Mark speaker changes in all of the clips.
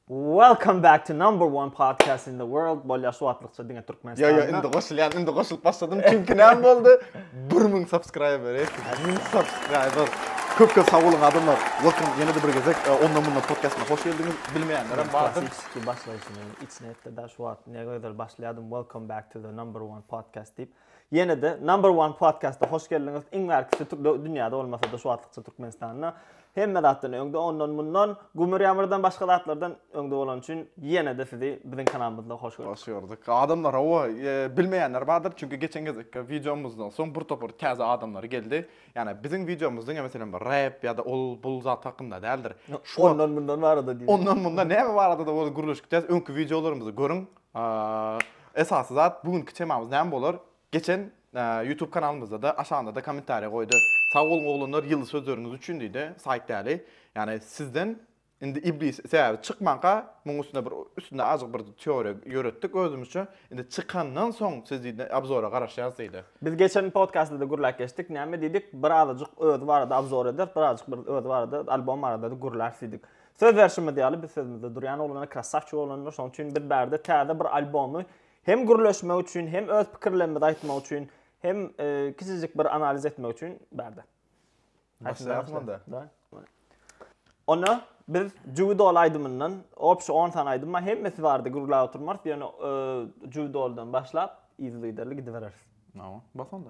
Speaker 1: Welcome back to number one podcast in the world. Bolýar şu wagtlykça diňe Türkmenistanda. Ýa ýa indi goşulýan, indi
Speaker 2: goşulyp başladym. Çünki näme boldy? 1000 subscriber, 1000 subscriber. Köp köp sag boluň adamlar. Welcome ýene de bir gezek e, onda munda podcastyna hoş geldiňiz. Bilmeýänler hem bardyr. Klasiki başlaýşyny
Speaker 1: içine etdi da şu wagt ne gözel başlaýardym. Welcome back to the number one podcast diýip. Ýene-de Number One Podcast-a hoş geldiňiz. Iň bärkisi türkde dünýäde bolmasa-da şu wagtlykça Türkmenistanda. Hemme zatdan öňde ondan mundan gümür ýamyrdan başga zatlardan öňde bolany üçin ýene-de sizi biziň kanalymyzda hoş gördük. Hoş gördük. Adamlar
Speaker 2: hawa bilmeýänler bardyr, çünki geçen gezekki wideomyzdan soň bir topar täze adamlar geldi. Ýani biziň wideomyz diňe meselem bir rap ýa-da ol bul zat hakynda däldir. Ondan mundan
Speaker 1: barada diýip. Ondan mundan näme barada-da
Speaker 2: bolsa gürleşikdäs. Öňki wideolarymyzy görüň. A esasy zat bu günki temamyz näme bolar? Geçen YouTube kanalymyzda-da aşagynda-da kommentariýa goýdy. Sag boluň oglanlar ýyly sözleriňiz üçin diýdi. Saýt däli. Ýagny sizden indi iblis sebäbi çykmanka muň üstünde bir üstünde azjyk bir teoriýa ýöretdik özümizçe. Indi çykandan soň siz diýdi abzora garaşýas diýdi. Biz geçen podkastda-da
Speaker 1: gürläp geçdik. Näme diýdik? Bir azajyk özi barada abzor ederis, bir azajyk bir özi barada albom barada-da gürläris diýdik. Söz berşimiz ýaly, biz sözümizde durýan oglanlar krassawçik oglanlar, şonuň üçin biz bärde täze bir albomy hem gürleşmek üçin, hem öz pikirlerimizi aýtmak üçin, hem e, kiçijik bir analiz etmek üçin bärde.
Speaker 2: Başlaýarys onda.
Speaker 1: Onda biz Judol aýdymyndan opşy 10 sany aýdym bar. Hemmesi bardy gürläp oturmarys. Ýöne e, Judoldan başlap yzly giderli gidibereris. Tamam. Bas onda.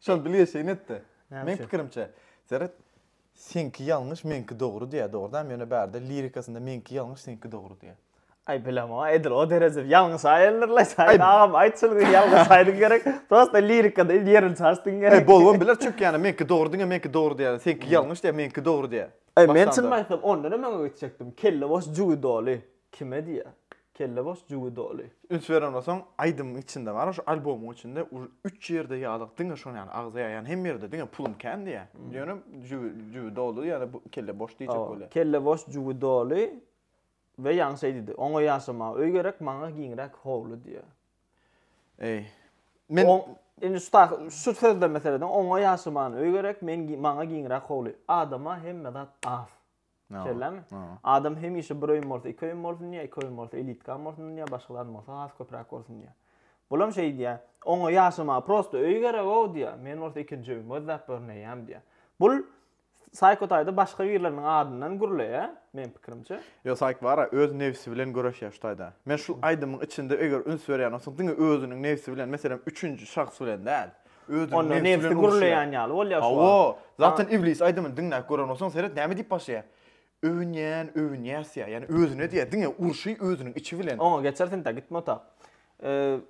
Speaker 2: Şol bilgeşleýin etdi. Meň pikirimçe, seret, seňki ýalňyş, meňki dogry diýýär, dogrudanam, ýöne bärde lirikasynda meňki ýalňyş, seňki dogry diýýär. Aý, bilemok,
Speaker 1: edil o derejede ýalňyş aýyldyr-laý, Saýit agam, aýt şol gün ýalňyş aýdyň gerek, prosta lirikada ýerini çalyşdyň gerek. Aý, bolubam biler, çünki ýa-da meňki
Speaker 2: dogry diňe, meňki dogry diýýär, seňki ýalňyş diýýär, meňki dogry diýýär. Aý, men çynymy aýtsam,
Speaker 1: ondanam öňe geçjekdim, kelle boş, jübi doly. Kime diýýä? Kelle boş jübi doly. Üns beren bolsaň
Speaker 2: aýdymyň içinde bar şu albomyň içinde üç ýerde ýalyk diňe şony ýaly agza ýaýan hem ýerde diňe pulum kän diýýä ýöne jübi jübi doly ýa-da bu kelle boş diýjek bolýa. Kelle boş jübi doly
Speaker 1: we ýaňy şeý diýdi oňa ýaşamaga öý gerek maňa giňräk howly diýýä. Eý
Speaker 2: men indi şu taýy
Speaker 1: şu sözde meselede oňa ýaşamagana öý gerek men maňa giňräk howly adama hemme zat az. Şeýlemi? Adam hemişe bir öýüm bolsa, iki öýüm bolsun diýýär, iki öýüm bolsa elitkam bolsun diýýär, başgalarym bolsa has köpräk bolsun diýýär. Bulam şeý diýýär, oňa ýaşamaga prosta öý gereg-ow diýýär, men bolsa ikinji öýümi gözläp görneýäm diýýär. Bul Saýko taýda başga birleriniň adyndan gürleýär, meň pikirimçe. Ýok, Saýk bar-a,
Speaker 2: öz nebsi bilen göreşýär şu taýda. Men şul aýdymyň içinde eger üns berýän bolsaň, diňe özüniň nebsi bilen, meselem, üçünji şahs bilen däl. Onda nebsi
Speaker 1: gürleýän ýaly bolýar şu wagt. Hawa, zaten iblis
Speaker 2: aýdymyny diňläp gören bolsaň seret näme diýip başlaýar. Öwünýän, öwünýäs diýýär. Ýani özüne diýýär, diňe urşy özüniň içi bilen. Oňa geçer senta gitme
Speaker 1: otag.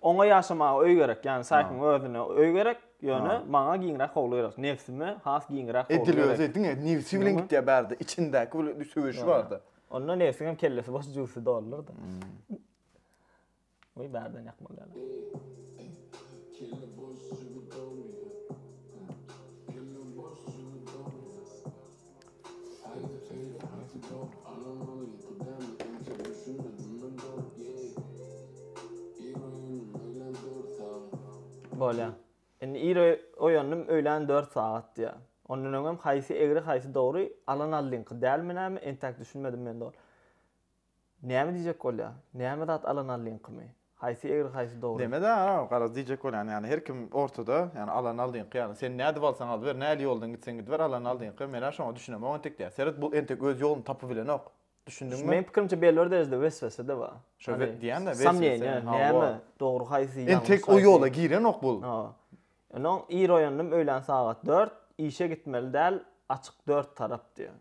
Speaker 1: Oňa ýaşamaga öý gerek, ýani Saýkyň özüne öý gerek, ýöne maňa giňräk howly gerek. Nebsime has giňräk howly gerek. Edil özi diňe nebsi bilen
Speaker 2: gitýär bärde, içindäki söweşi barda. Onda nebsiňem
Speaker 1: kellesi boş jübüsi doldur-da. Goý bärden ýakmaly dälä. Bolýa. Indi ir oýandym öýlän dört sagat diýä. Ondan öňem haýsy egri haýsy dogry alan aldyňky dälmi näme entäk düşünmedim mende ol. Näme diýjek bolýa? Näme zat alana lynkymy? Haýsy egri haýsy dogry? Näme zat alana? Garaz diýjek
Speaker 2: bolýan ýaly her kim ortada ýaly alana lynky ýaly sen nädip alsaň alyber näli ýoldan gitseň gidiber alana lynky menä şoňa düşünemok entek diýýä seret bu entek öz ýoluny tapybilenok düşündiňmi? Meň pikirimçe belli bir
Speaker 1: derejede weswesede bar. Şo diýýän de
Speaker 2: weswese näme
Speaker 1: dogry haýsy ýalňyş haýsy. Entek o ýola girenok
Speaker 2: bul. Hawa. Onnoň
Speaker 1: ir oýandym öýlän sagat dört işe gitmeli däl açyk dört tarap diýýä.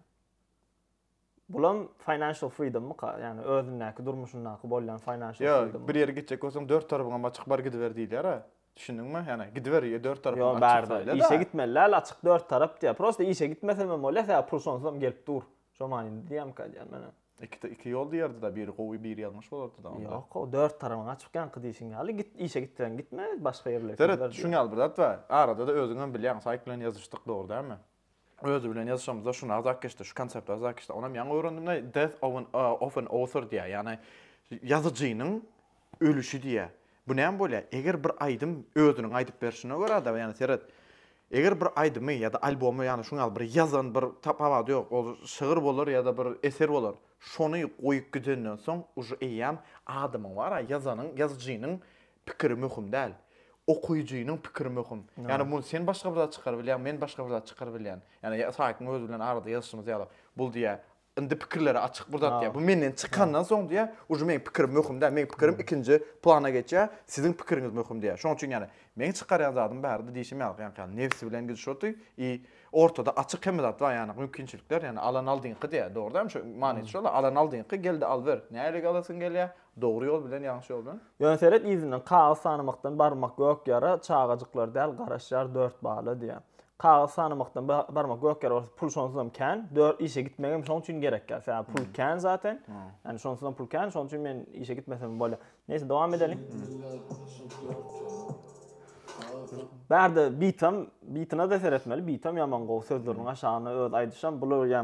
Speaker 1: Bulam financial freedommyka? Ýagny özündäki durmuşyndaky bolýan financial freedom. Ýok, bir ýere gitjek bolsaň dört
Speaker 2: tarapyňam açyk bar gidiber diýilýär-ä. Düşündiňmi? Ýagny gidiber ýa dört tarapyňam açyk saýla-da. Ýok, baribir işe
Speaker 1: gitmeli däl açyk dört tarap diýýär. Prosta işe gitmesem hem bolýar, sebäbi pul şonsuzam gelip dur. Şo manyda diýýämyka diýýän men hem. Iki
Speaker 2: iki ýol diýerdi-dä, biri gowy, biri ýalňyş bolardy-da onda. Ýok, gowy, dört tarapyň
Speaker 1: açyk ýaňky diýşiň ýaly. Git, işe gitseň gitme, başga ýerlere gidiber. Seret, şuň ýaly bir zat
Speaker 2: bar. Arada-da özüňem bilýäň, saýk bilen ýazyşdyk, dogry dälmi? Özi bilen ýazyşamyzda şuny agzap geçdi, şu konsepti agzap geçdi. Onam ýaňy öwrendim-de Death of an, uh, of an author diýýär. Ýagny ýazyjynyň ölüşi diýýär. Bu näme bolýar? Eger bir aýdym özüniň aýdyp berşine görä-de, ýagny seret, eger bir aýdymy ýa-da albomy, ýagny şuň ýaly bir ýazan bir tapawudy ýok, ol şygyr bolar ýa-da bir eser bolar. Şony goýup gidenden soň uje eýýäm adamyň bar-a, ýazanyň, ýazyjynyň pikiri möhüm däl. Okyjynyň pikiri möhüm. Ýagny muny sen başga bir zat çykaryp bilýäň, men başga bir zat çykaryp bilýän. Ýagny Saýkyň özi bilen arada ýazyşymyz ýaly, bul diýýär, indi pikirleri açyk bir zat diýýär. Bu menden çykandan soň diýýär, uje meniň pikirim möhüm däl, meniň pikirim ikinji plana geçýär, siziň pikiriňiz möhüm diýýär. Şonuň üçin ýagny meň çykarýan zadym barada diýşim ýaly, ýagny nebsi bilen gidişaty i ortada açyk hemme zat bar, ýagny mümkinçilikler, ýagny alan aldyňky diýýär, dogry dälmi? Şu manysy şol-a, alan aldyňky, gel-de al ber. Nähili alasyň gelýär, Dogry ýol bilen, ýalňyş ýol bilen. Ýöne seret yzyndan,
Speaker 1: kagyz sanamakdan barmak gök ýara, çagajyklar däl, garaşýar dört bala diýýär. Kagyz sanamakdan barmak gök ýara bolsa, pul şonsuzam kän, dört işe gitmegem şoň üçin gerek ýa, sebäbi pul kän zaten, ýani şonsuzam pul kän, şonuň üçin men işe gitmesem bolýar. Neýse, dowam edeliň. Bärde bitam, bitina-da seretmeli, bitam ýaman gowy, sözleriniň aşagyna öz aýdyşam, bular ýa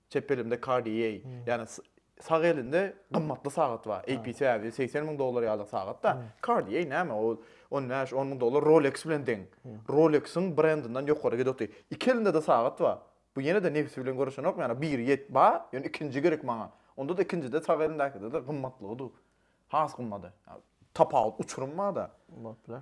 Speaker 2: Çep elimde Cartier, ýagny sag elinde gymmatly sagat bar. AP Savage 80 müň dollar ýaly sagat-da. Cartier näme ol? On bäş, on müň dollar Rolex bilen deň. Rolex-iň brendinden ýokary gidip otyr. Iki elinde-de sagat bar. Bu ýene-de nebsi bilen göreşenokmy? Ýagny biri ýet bar, ýöne ikinji gerek maňa. Onda-da ikinjide sag elindäkide-de gymmatlygy dur. Has gymmady. Tapawut, uçurym bar-da. Bolupdyr.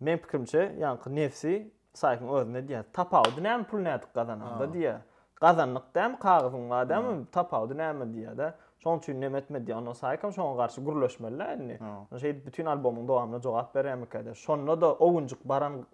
Speaker 1: Meň pikirimçe ýaňky nefsi saýkyň özüne edýär. Tapawudy näme pul nädip gazananda diýýär. Gazandyk dämi kagyzyň bar dämi tapawudy näme diýýärde. Şoň üçin nem etme diýýär. Onda saýkam şoňa garşy gürleşmelidä indi. Şeýdip bütin albomyň dowamyna jogap berýärmikäde. Şonda-da owunjyk baran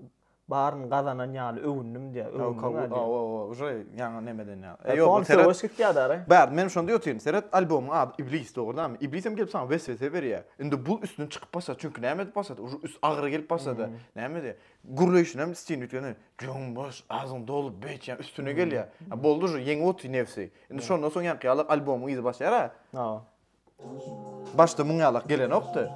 Speaker 1: baryny gazanan ýaly öwündim diýýär. Öwündiňä diýýär. Owo uje
Speaker 2: ýaňy nem eden ýaly. Ýok ony seret. Söweş gitýär
Speaker 1: däri. Bäh men şonda ýotyryn
Speaker 2: seret albomyň ady Iblis dogry dämi. Iblisem gelip saňa weswese berýär. Indi bu üstünden çykyp başlady. Çünki näme edip başlady? Ur üst agyry gelip başlady. Näme diýe? Gürleýşini hem istin üýtgeden. Jöň boş, agzyň dolup beýt ýa üstüne gelýär. A boldy şu ýeňip otyr nefsi. Indi şondan soň ýaňky ýalak albomyň yzy başlaýar a. A. Başda muň ýalak gelenokdy.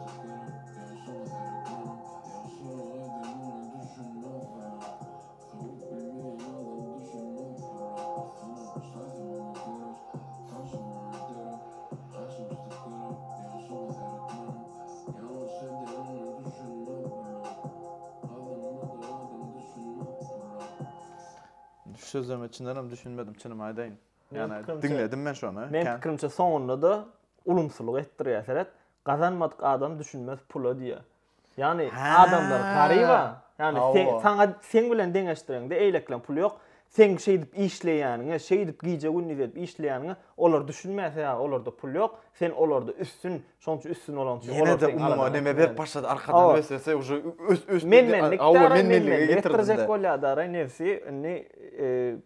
Speaker 2: sözlerime çyndanam düşünmedim, çynymy aýdaýyn. Ýani diňledim men şony. Men pikirimçe soňunda-da
Speaker 1: ulumsylyk etdirýär seret. Gazanmadyk adam düşünmez pula diýýär. Ýagny adamlar garyba, ýagny sen saňa seň bilen deňeşdireňde eýlekleň puly ýok. Seň şeýdip işleýäniňe, şeýdip gije gündiz edip işleýäniňe olar düşünmän sebäbi olarda pul ýok. Sen olarda üstün, şoň üçin üstün bolaň üçin olar seň alanyňa. Ýene-de neme
Speaker 2: berip başlady arkadan weswese uje ös ös. Men-menlik, awa men-menlik
Speaker 1: getirjek bolýa dara nebsi indi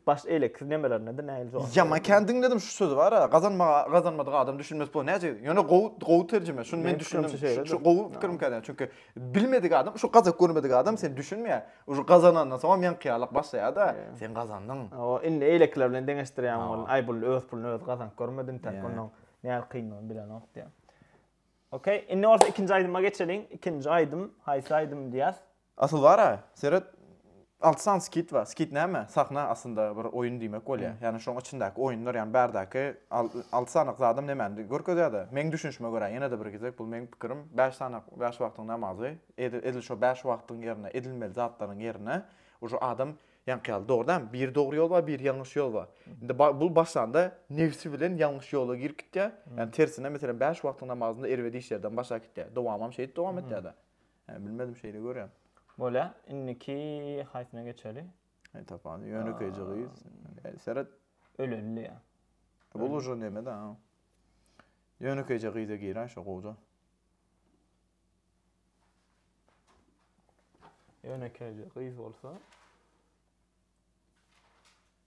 Speaker 1: Baş eýle kir nemelerinede nähili jogap. Ýaman kän diňledim şu
Speaker 2: sözi bar a gazanmaga gazanmadyk adam düşünmez bu näce ýöne gowy gowy terjime şuny men düşündim şu gowy pikirim kädä çünki bilmedik adam şu gazak görmedik adam sen düşünmeýä şu gazanandan soňam ýaňkyýalak başlaýada sen gazandyň o indi eýlekiler
Speaker 1: bilen deňeşdirýän bolun aý bul öz puluny öz gazanyp görmedi intäk ondan nähili kyndygyny bilenok diýä okey indi bolsa ikinji aýdyma geçeliň ikinji aýdym haýsy aýdym diýäs Asyl bara,
Speaker 2: seret, alty sany skit bar. Skit näme? Sahna aslynda bir oýun diýmek bolýar. Ýagny şoň içindäki oýunlar, ýagny bärdäki alty sanyk zadam nemäni görkezýär-de, meň düşünişime görä, ýene-de bir gezek, bu meň pikirim, bäş sanyk, bäş wagtyň namazy, edil şo bäş wagtyň ýerine, edilmeli zatlaryň ýerine uju adam, ýaňky ýaly, dogry dämi, bir dogry ýol bar, bir ýalňyş ýol bar. Indi bu başlanda nebsi bilen ýalňyş ýola girip gitýär. Ýagny tersine, meselem, bäş wagtyň namazynda erbet işlerden baş äkitýär. Dowamam şeýdip dowam etýär-de. Hä, bilmedim şeýle görýän. Bolýa,
Speaker 1: indiki haýsyna geçeli? Hä, tapany
Speaker 2: ýönekeýje gyz. Seret. Ölenli
Speaker 1: ýa. Bu uje
Speaker 2: neme-de. Ýönekeýje gyza giräý şo gowja.
Speaker 1: Ýönekeýje gyz bolsa.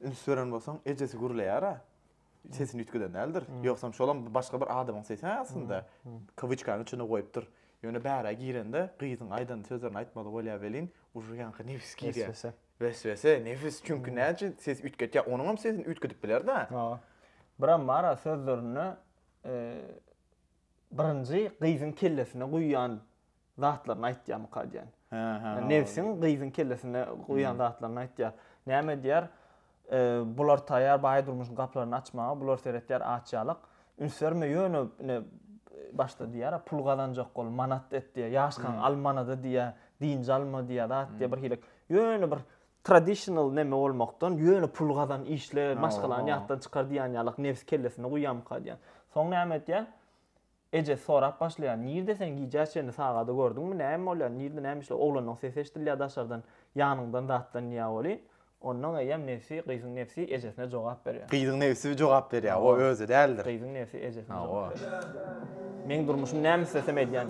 Speaker 2: Üns beren bolsaň, ejesi gürleýär-ä. Sesini üýtgeden däldir. Ýogsam şolam başga bir adamyň sesi-hä aslynda. Kawuçkanyň içinde goýupdyr. Ýöne bärä girende gyzyň aýdan sözlerini aýtmaly bolýar welin, ujy ýaňky nebis girýär. Weswese. Weswese, nebis. Çünki näme üçin ses üýtgetýär? Onuň hem sesini üýtgedip biler-dä. Hawa. Birem
Speaker 1: bar-a sözlerinde birinji gyzyň kellesine guýýan zatlaryny aýtýarmyka diýen. Ýa nebsiň gyzyň kellesine guýan zatlaryny aýtýar. Näme edýär? Bular taýýar baý durmuşyň gaplaryny açmaga, bular seretýär aç ýalak. Üns berme ýöne ine başda diýýär, pul gazanjak bol, manat et diýýär. Ýaşkaň al manady diýýär, dynç alma diýýär, zat diýýär bir hili. Ýöne bir traditional neme bolmakdan ýöne pul gazan, işle, maşgalany ýatdan çykar diýýän ýalak nebs kellesine guýýarmyka diýýän. Soň näme edýär? Ejesi sorap başlaýar, Nirde sen gijä çenli sagady gördüňmi, näme bolýar, nirde näme işle, oglanyň sesi eşidilýär daşardan, ýanyňdan zatlanýar welin, onnoň eýýäm nebsi, gyzyň nebsi ejesine jogap berýär. Gyzyň nebsi jogap
Speaker 2: berýär, o özi däldir. Gyzyň nebsi ejesine
Speaker 1: jogap berýär. Meň durmuşym näme islesem edýän.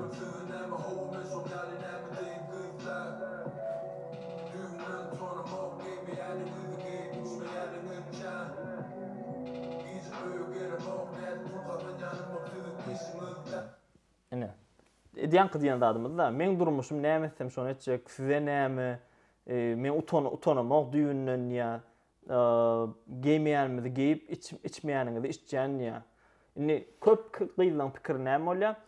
Speaker 1: Ine, edýänki diýen zadymyz-da, meň durmuşym, näme etsem, şony etjek, size näme, men utanamok düýbünden diýýär, geýmeýänimizi geýip, içmeýänimizi içýän diýýär. Indi köp gyzlaryň pikiri näme bolýar?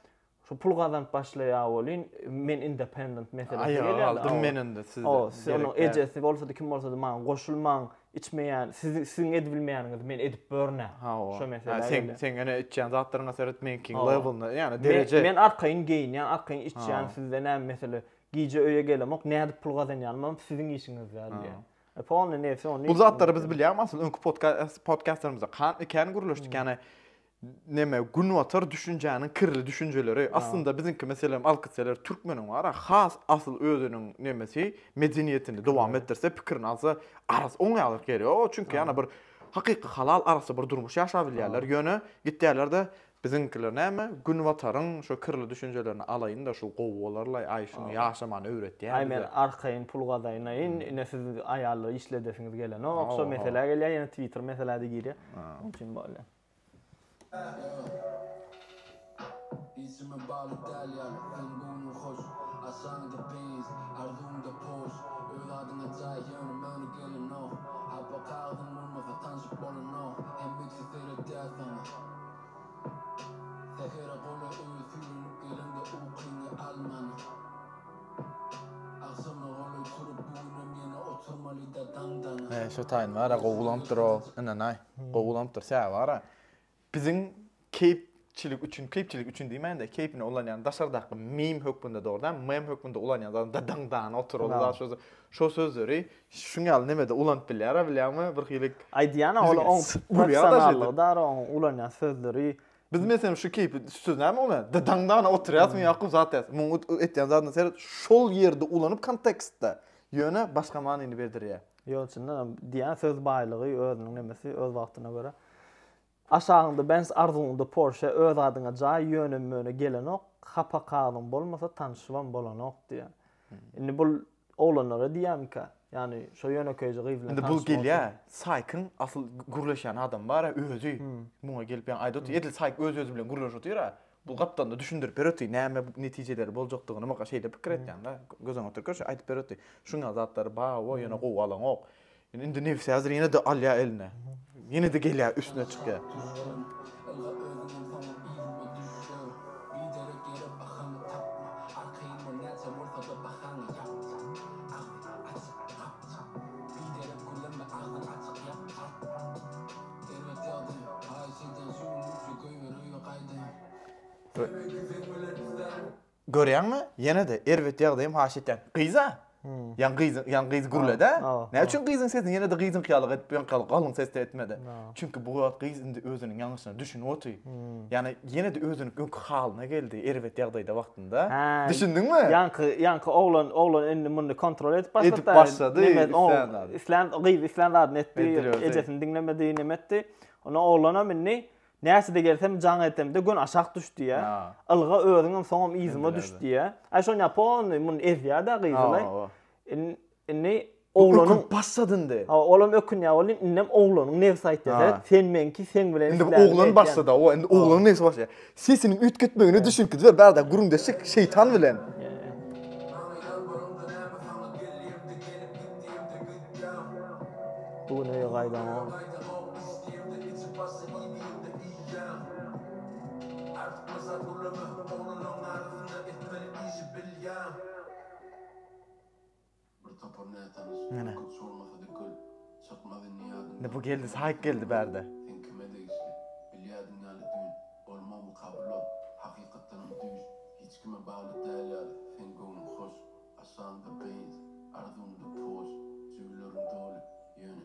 Speaker 1: Şu pul gazanyp başlaýa welin men independent meselesi gelýär. Aýaga galdym men indi sizde.
Speaker 2: O, siz onuň ejesi
Speaker 1: bolsady, kim bolsady maňa goşulmaň, içmeýän, siz siziň edibilmeýäniňizi men edip börnä. Şo mesele. Ha, sen sen ene içýän
Speaker 2: zatlaryňa seret menkiň labelna, ýagny dereje. Men arkaýyn geýinýän,
Speaker 1: arkaýyn içýän, sizde näme mesele? Gije öýe gelemok, nädip pul gazanýanymam siziň işiňiz däl diýýär. E polny neyse ony. Bu zatlary biz bilýämi
Speaker 2: asyl öňki podcast podcastlarymyzda kan iken gürleşdik ýagny Neme, günbatar düşünjäniň kirli düşünjeleri. Aslynda biziňki meselem alkytseler türkmeniň bar-a, has asyl özüniň nemesi, medeniýetini dowam etdirse, pikirini alsa, arasy oňýarlyk ýeri ýok. Çünki ýa-da bir hakyky halal arassa bir durmuş ýaşap bilýärler. Ýöne gitýärler-de, biziňkiler näme, günbataryň şu kirli düşünjelerini alaýyn-da, şu gowy bolarlaý, aý, şuny ýaşamany öwretýär bize. Aý, men arkaýyn
Speaker 1: pul gazaýnaýyn, ine siz aýallar işledesiňiz gelenok, şo meselä gelýär, ýene twitter meseläde girýär. Onuň üçin bolýar.
Speaker 3: Isimi bal Italiýaly, seň göwnüň hoş, Aşagyňda peýiz, arzuwyňda poş, Öz adyňa jaý, ýöne möni gelenoh, Hapa kagyzyň bolmasa, tanşyp bolanoh, Hemmeksi seretýär saňa. Sähere gola öýe süýrenip geleňde Ukyňy alman, agşama golaý turup, Bu günem ýene oturmalyda daňdan. He şo taýyn bara gowy
Speaker 2: ulanypdyr o ynanaý. Gowy ulanypdyr sebäbi gara biziň keýp çilik üçin keýpçilik üçin diýmän-de keýpine ulanýan daşardaky meme hökmünde dogry däl meme hökmünde ulanýan zatym da daň dana otur ol zat şo şo sözleri şuň ýaly nemede ulanyp bilýär-ä bilýäňmi bir hili Aýdýan-a ol oň
Speaker 1: professionallygy dara oň ulanýan sözleri. Biz meselem şu
Speaker 2: keýpi şu söz näme ulanýas da daň dana oturýasmy ýa-da zat edýäs muň edýän zadyna seret şol ýerde ulanyp kontekstde ýöne başga manyny berdirýär. Ýol içinde diýýän
Speaker 1: söz baýlygy özüniň nemesi öz wagtyna görä. Aşagyňda Benz arzuwyňda Porsche öz adyňa jaý ýöne möne gelenok hapa kagyzyň bolmasa tanyşybam bolanok diýýär. Indi bul oglanlara diýýämikä? Ýani şo ýönekeýje gyz bilen tanyşmak. Indi bul gelýär
Speaker 2: Saýkyň asyl gürleşýän adamy bara özi muňa gelip ýani aýdyp otyr edil Saýk öz özi bilen gürleşip otyra Bu gapdalda düşündirip beripdi, näme netijeleri boljakdygyny maňa şeýle pikir etýän da, göz öňüne oturyp görşi aýdyp beripdi. Şuňňa zatlary bar, woo ýöne gowy alaňok. Indi nebsi häzir ýene-de alýar eline. Ýene-de gelýär üstüne çykýar. Serwet ýagdy, haýyş edýän şu gün üçe köýber öýe gaýdaýyn. Temeki seň bilen isterim. Görýäňmi, ýene-de erwet ýagdaýym haýyş etýän. Gyz-a? Ýaňy gyz, ýaňy gyz gürledi-ä. Näme üçin gyzyň sesini ýene-de gyzyňky ýaly edip ýaňky galyň sesde etmedi? Çünki bu wagt gyz indi özüniň ýalňyşyna düşünip oty. Ýagny ýene-de özüniň öňki halyna geldi, erwet ýagdaýda wagtynda. Da. Düşündiňmi? Ýanky, ýanky oglan,
Speaker 1: oglan indi muny kontrol edip başlady. Edip başlady.
Speaker 2: Islan, gyz islan
Speaker 1: zadyny etdi. Ejesini diňlemedi, näme etdi? Onda oglanam indi Näçede gelsem jaň etemde gün aşak düş diýä. Ilga özüňem soňam yzyma düş diýä. Aý şoň ýapon muny ezýä-de gyzlaý. Indi oglanyň ökünip basat indi. Ha,
Speaker 2: olam ökünýär boldy.
Speaker 1: Indem oglanyň nebsi aýtdy. Sen meňki, sen bilen. Indi oglan başlady.
Speaker 2: O indi oglanyň nebsi başlaýar. Sesiniň üýtgetmegine düşünki ber, bada güründeşik şeýtan bilen.
Speaker 1: Bu gün öýe gaýdaňok.
Speaker 2: Bir topar nätanyş Ene. köpçi bolmasa dökül çykmaz indi ýadyňdan Indi bu geldi saýyk geldi bärde. Sen kime degişli? Bilýädiň ýaly düýn Bolma bu kabullan Hakykatdanam düýş Hiç kime bagly däl ýaly Seň göwnüň hoş
Speaker 1: Aşagyňda beýns Arzuwňda poş Jübüleriň doly Ýöne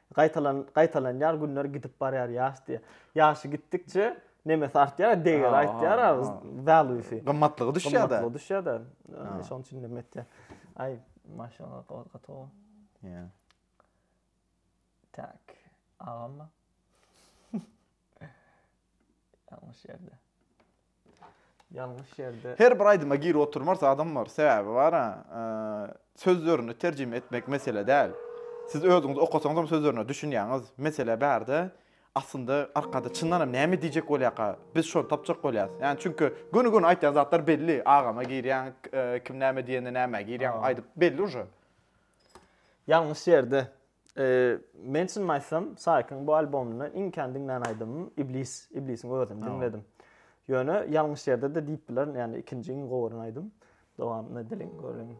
Speaker 1: Gaýtalan gaýtalanýar günler gidip barýar ýaş diýýär. Ýaşy gitdikçe nemesi artýar, degeri aýtýar, value-si. Gymmatlygy düşýär-de.
Speaker 2: Gymmatlygy düşýär-de.
Speaker 1: Şonuň üçin neme etýär. Aý, maşynlar gaty gowy. Ýa. Tak. Agam. Ýalňyş ýerde. Ýalňyş ýerde. Her bir aýdyma girip
Speaker 2: oturmars adam bar. Sebäbi bar-a, sözlerini terjime etmek mesele däl. Siz özüňiz okasaňyzam sözlerine düşünýäňiz. Mesele bärde, aslynda arkada çyndanam näme diýjek bolýarka, biz şony tapjak bolýarys. Ýagny çünki göni-göni aýtýan zatlar belli. Agama girýäň, kim näme diýende nämä girýäň, aýdyp belli uje.
Speaker 1: Ýalňyş ýerde. Men çynymy aýtsam, Saýkyň bu albomyndan iň kän diňlän aýdymym Iblis, Iblisiň özüni diňledim. Ýöne ýalňyş ýerde-de diýip bilerin, ýagny ikinji iň gowyryny aýdym. Dowamyny edeliň, göreliň.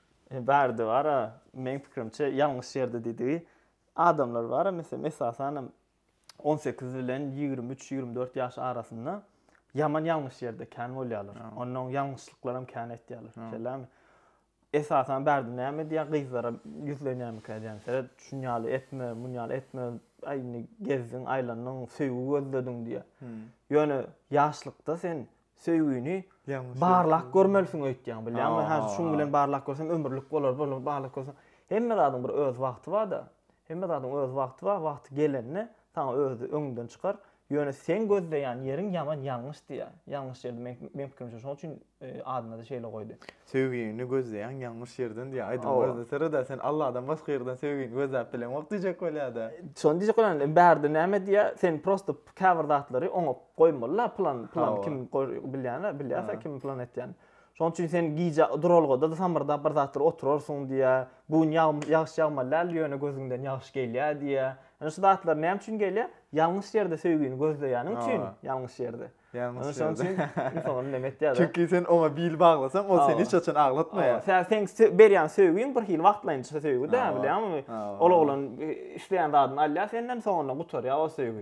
Speaker 3: Bärde bar-a,
Speaker 1: meň pikirimçe, ýalňyş ýerde diýdigi. Adamlar bar-a, meselem, esasan hem on sekiz bilen ýigrimi üç-ýigrimi dört ýaş arasynda ýaman ýalňyş ýerde kän bolýarlar. Onnoň ýalňyşlyklaram kän etýärler. Şeýlämi? Esasan bärde näme diýýär, gyzlara ýüzlenýärmikä diýýän. Seret, şun ýaly etme, mun ýaly etme. Aý, indi gezdiň, aýlandyň, söýgi gözlediň diýýär. Ýöne ýaşlykda sen Söýgini barlak görmelisiň öýtýäň, bilýäňmi? Hä, şuň bilen barlak görsem ömürlik bolar, bolmasa barlak görsem. Hemme zadyň bir öz wagty bar-da. Hemme zadyň öz wagty bar, wagty gelende saňa özi öňünden çykar. Ýöne seň gözleýän ýeriň ýaman ýalňyş diýýä. Ýalňyş ýerde meň pikirimçe şoň üçin adyna-da şeýle goýdy. Söýgini
Speaker 2: gözleýäň ýalňyş ýerden diýýä. Aýdymyň özünde seret-ä, sen Alladan başga ýerden söýgini gözläp bileňok diýjek bolýa-da. Şony diýjek bolýan,
Speaker 1: bärde näme diýýä, sen prosto käbir zatlary oňup Goýmaly la plan plan kim bilýän bilýärse kim plan etýän. Şonuň üçin sen gije duralgada samyrdap bir zatlar oturarsyň diýä. Bu gün ýagşy ýagmaly däl ýöne gözüňden ýagşy gelýär diýä. Ine şu zatlar näme üçin gelýär? Ýalňyş ýerde söýgini gözleýäniň üçin ýalňyş ýerde. Ýalňyş şonuň üçin
Speaker 2: insan
Speaker 1: näme etýär? Çünki sen oňa bil
Speaker 2: baglasaň ol seni hiç haçan aglatmaýar. Sen seň berýän
Speaker 1: söýgiň bir hil wagtlaýynça söýgi däl bilýäňmi? Ol oglan isleýän zadyny alýar senden soňundan gutarýar o söýgi.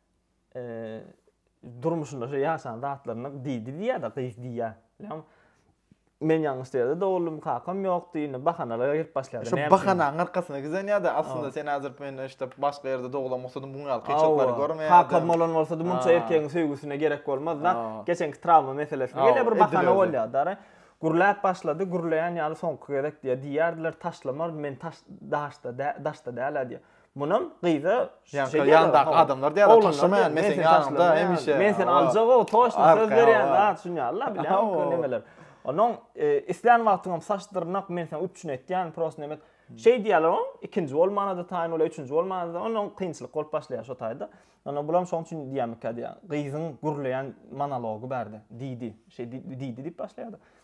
Speaker 1: durmuşynda şu ýaşan zatlaryna diýdi diýýär-de gyz diýýär. Ýa men ýalňyş ýerde dogluldym, kakam ýokdy, indi bahanalara gelip başlaýar. Şu bahanaň arkasyna
Speaker 2: giden ýa-da aslynda sen häzir men işte başga ýerde doglan bolsadym, bu ýaly kynçylyklary görmeýärdim. Kakam bolan bolsady,
Speaker 1: munça erkegiň söýgüsine gerek bolmazdy. Geçenki trawma meselesi ýene bir bahana bolýar-da. Gürläp başlady, gürleýän ýaly soňky gezek diýýär. Diýýärdiler taşlamar, men daşda däl-ä diýýär. Munam gyza Ýaňky ýandaky
Speaker 2: adamlar diýýärler, taşlamaýan men seni ýanyňda hemişe. Men seni aljagok,
Speaker 1: toçna söz berýän, a düşünýärler, bilýärmiňki nemeler. Onuň e, islän wagtyňam saç dyrnak men seni üpjün etýän, prosta nemek. Şeý diýýärler oň, ikinji bolmana-da taýyn bolýar, üçünji bolmana-da, onuň kynçylyk bolup başlaýar şo taýda. Ana bulam şoň üçin diýýärmikä diýýär. Gyzyň gürleýän monology bärde. Diýdi, şeý diýdi diýip başlaýardy.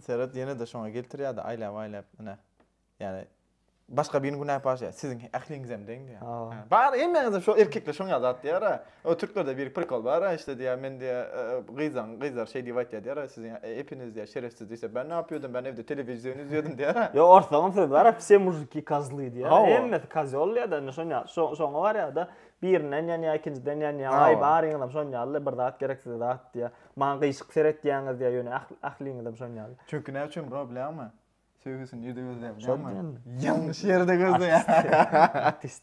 Speaker 3: Seret ýene-de şoňa
Speaker 2: geltirýärdi aýlap-aýlap ine. Ýani başga biriniň günäsi bar şeýle siziň ähliňizem deň diýýär. Bar hemmäňizem şo erkekler şoňa zat diýýär-ä. O türklerde bir prikol bar-a işte diýýär men diýýär gyzlaň gyzlar şeý diýip aýtýar diýýär-ä siziň epiniz diýýär şerefsiz diýse ben näp ýördüm ben evde telewizion izýödüm diýýär-ä. Ýok orslaryň sözi bar-a
Speaker 1: vse muziki kazly diýýär. Hemmesi kazýol diýýär-de indi şoňa barýar-da. Birinden ýanýar, ikinjiden ýanýar. Aý, baryňyzam şon ýaly-da, bir zat gerek size zat diýýär. Maňa gyşyk seretýäňiz diýýär, ýöne ähli, ähliňizem şon ýaly. Çünki näme üçin bro
Speaker 2: bilýäňmi? Söýgüsini nirde gözleýär bilýäňmi? Şo diýen. Ýalňyş ýerde gözleýär. Artist.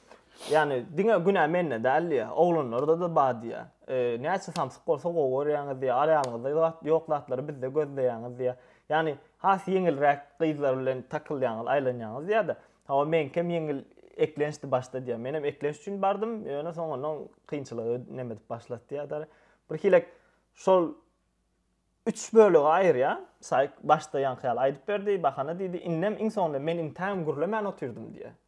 Speaker 1: Ýani diňe günä mende däl diýýär. Oglanlarda-da bar diýýär. E, näçe samsyk bolsa gowy görýäňiz diýýär. Araýaňyzda zat ýok zatlary bizde gözleýäňiz diýýär. Ýani has ýeňilräk gyzlar bilen takylýaňyz, aýlanýaňyz diýýär-de. Hawa meňkem ýeňil eklençdi başda diýýär. Menem eklenç üçin bardym, ýöne soňundan kynçylygy neme edip başlady diýýär däli. Birhilek şol üç bölege aýyrýar. Saýk başda ýaňky ýaly aýdyp berdi, bahana diýdi. Indem iň soňunda men intägem gürlemän otyrdym diýýär.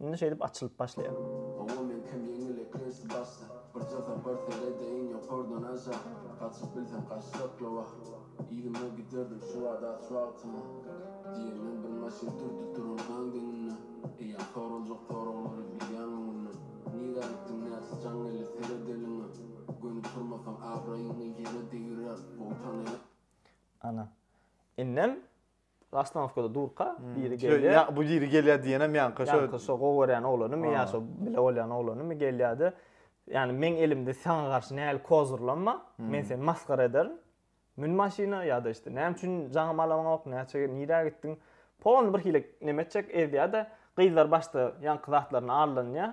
Speaker 1: Indi şeýdip açylyp başlaýar. Owo men kim ýeňil eklensiz başda Birje sapar seredeýin ýokardan aşa Gaçyp bilsem gaçjak ýo wah Yzyma giderdim şu wagt aç wagtyma Diýenden bir maşyn turdy turan gaň deňinde Eýýäm soraljak soraglary bilýäň öňünden Nirä gitdiň nätse jaň eli seredeliňä Göni turmasaň abraýyňy ýere degirer Gowy tanaýan. Ana. Indem Ostanowkada durka, hmm. biri gelýär. Ya, bu biri gelýär
Speaker 2: diýenem ýanka şo. Ýanka şo gowy görýän
Speaker 1: oglanymy ýa şo bile bolýan oglanymy gelýärdi. Ýani meň elimde saňa garşy näli kozurlanma, hmm. men seni masgara ederin. Mün maşyna ýa-da işte näme üçin jaňym alaňok, näçe nirä gitdiň? Pon bir hile neme etjek, ezdýär-de, gyzlar başda ýanky zatlaryny allanýar.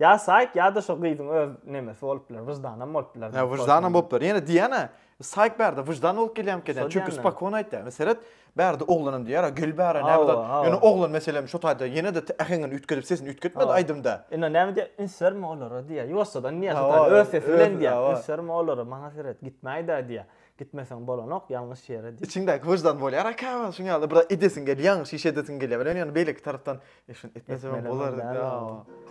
Speaker 1: Ýa Saýk ýa-da şo gyzyň öz nemesi bolup biler, wyždanam bolup biler. Hä, wyždanam bolup biler. Ýene
Speaker 2: diýýän-ä, Saýk bärde wyždan bolup gelýärmi eken diýýän. Çünki spokon aýtýar. Indi seret, bärde oglanam diýýär-ä, gel bäre, näme zat. Ýöne oglan meselem şu taýda ýene-de äheňini üýtgedip, sesini üýtgetmedi aýdymda. Indi näme diýýär, üns
Speaker 1: berme olara diýýär. Ýuwaşjadan diýýär, şu taýda öz sesi bilen diýýär. Üns berme olara, maňa seret, gitmäý-dä diýýär. Gitmeseň bolanok ýalňyş ýere diýip. Içiňdäki wyždan bolýar aka
Speaker 2: şuň ýaly biraz edesiň gelýär ýalňyş iş edesiň gelýär welin ýöne beýleki tarapdan e şuny etmesegem bolar diýip ýa.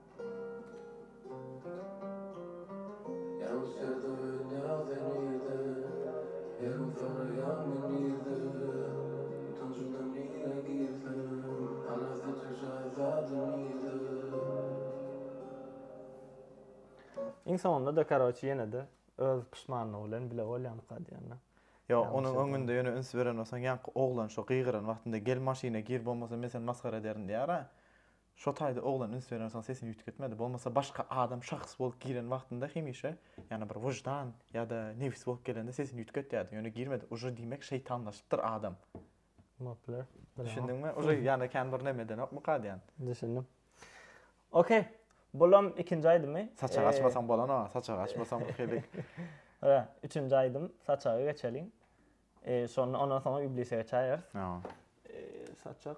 Speaker 1: Iň soňunda-da karoçi ýene-de öz puşmanlygy bilen bile bolýamyka diýende. Ýo, onuň
Speaker 2: öňünde ýöne üns beren bolsaň, ýaňky oglan şo gygyran wagtynda gel maşyna gir bolmasa men seni masgara ederin diýýär-ä. Şo taýda oglan üns berensoň sesini üýtgetmedi. Bolmasa başga adam şahs bolup giren wagtynda hemişe ýa-da bir wyždan ýa-da nebis bolup gelende sesini üýtgetýärdi. Ýöne girmedi. Uje diýmek şeýtanlaşypdyr adam. Bopler.
Speaker 1: Düşündiňmi?
Speaker 2: Uje ýa-da kän bir näme edenokmyka diýän. Düşündim.
Speaker 1: Okey. Bulam ikinji aýdymy. Saçagy açmasaň bolana,
Speaker 2: saçagy açmasaň bir helik. Hä,
Speaker 1: üçünji aýdym saçaga geçeliň. Eee, şonda ondan soňra iblise geçäýeris. Ýa. Eee,
Speaker 2: saçak.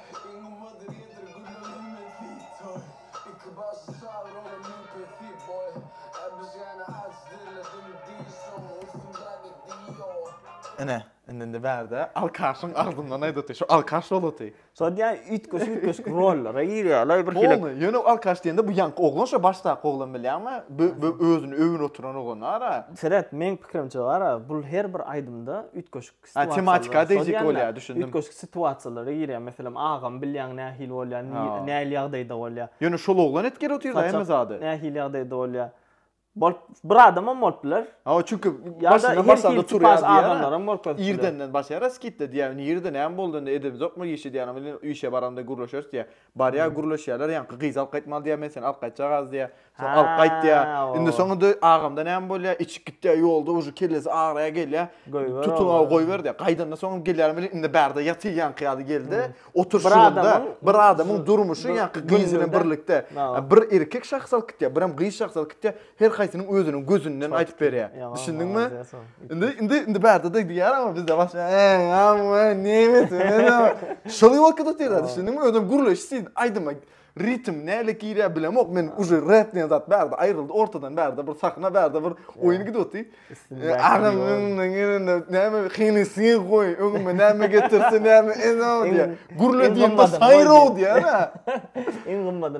Speaker 2: Ine, indi-indi bärde alkaşyň agzyndan aýdaty, şu alkaş bolaty. Şo diýýän,
Speaker 1: üýtgeşik-üýtgeşik rollara girýärler, bir hili. Polny, ýöne alkaş diýende
Speaker 2: bu ýaňky oglan şo başdaky oglan bilýäňmi? Bö-bö özüni öwünip oturan oglan-a-ra. Seret, meň pikirimçe
Speaker 1: bar-a, bul her bir aýdymda üýtgeşik. Ha, tematika-a
Speaker 2: degişik bolýar, düşündim. Üýtgeşik situasiýalara
Speaker 1: girýär. Meselem, agamy bilýäň, nähili bolýar, nähili ýagdaýda bolýar. Ýöne şol oglan etgär
Speaker 2: otyrda hemme zady. Nähili ýagdaýda bolýar.
Speaker 1: Bolup, bir adamam bolup biler. Hawa, çünki başyndan
Speaker 2: başlanda
Speaker 1: turýar diýýär.
Speaker 2: Adamlaram bolup biler.
Speaker 1: Irdenden başlaýar-a
Speaker 2: skitde diýýär. Indi irde näme boldy, indi edemizokmy, işe diýýär, indi işe baranda gürleşeris diýýär. Barýar gürleşýärler ýaňky gyz alyp gaýtmaly diýýär men seni alyp gaýtjagaz diýýär. Soň alyp gaýt diýýär. Indi soň indi agamda näme bolýar içip gitýär ýolda uje kellesi agraýar gelýär. Tutuňa goýber diýýär. Gaýdanda soň gelýärin welin indi bärde ýatyr ýaňky ýaly geldi. Oturşyňda bir adamyň durmuşy ýaňky gyz bilen birlikde bir erkek şahs alyp gitýär birem gyz şahs alyp gitýär. Her haýsynyň özüniň gözünden aýdyp berýär. Düşündiňmi? Indi indi indi bärde de diýýär ama bizde başga. Amma nemes. Şol ýolka da diýýär. Düşündiňmi? Özüm gürleşi siz aýdyma ritm näle girýär bilemok. Men uje rap diýen zat bärde aýryldy ortadan bärde bir sahna bärde bir oýun gidip otyr. Agam indi näme hyny siz goý. Öňüme näme getirse näme ezo diýär. Gürle diýen de saýro diýär. Iň
Speaker 1: gymmaty.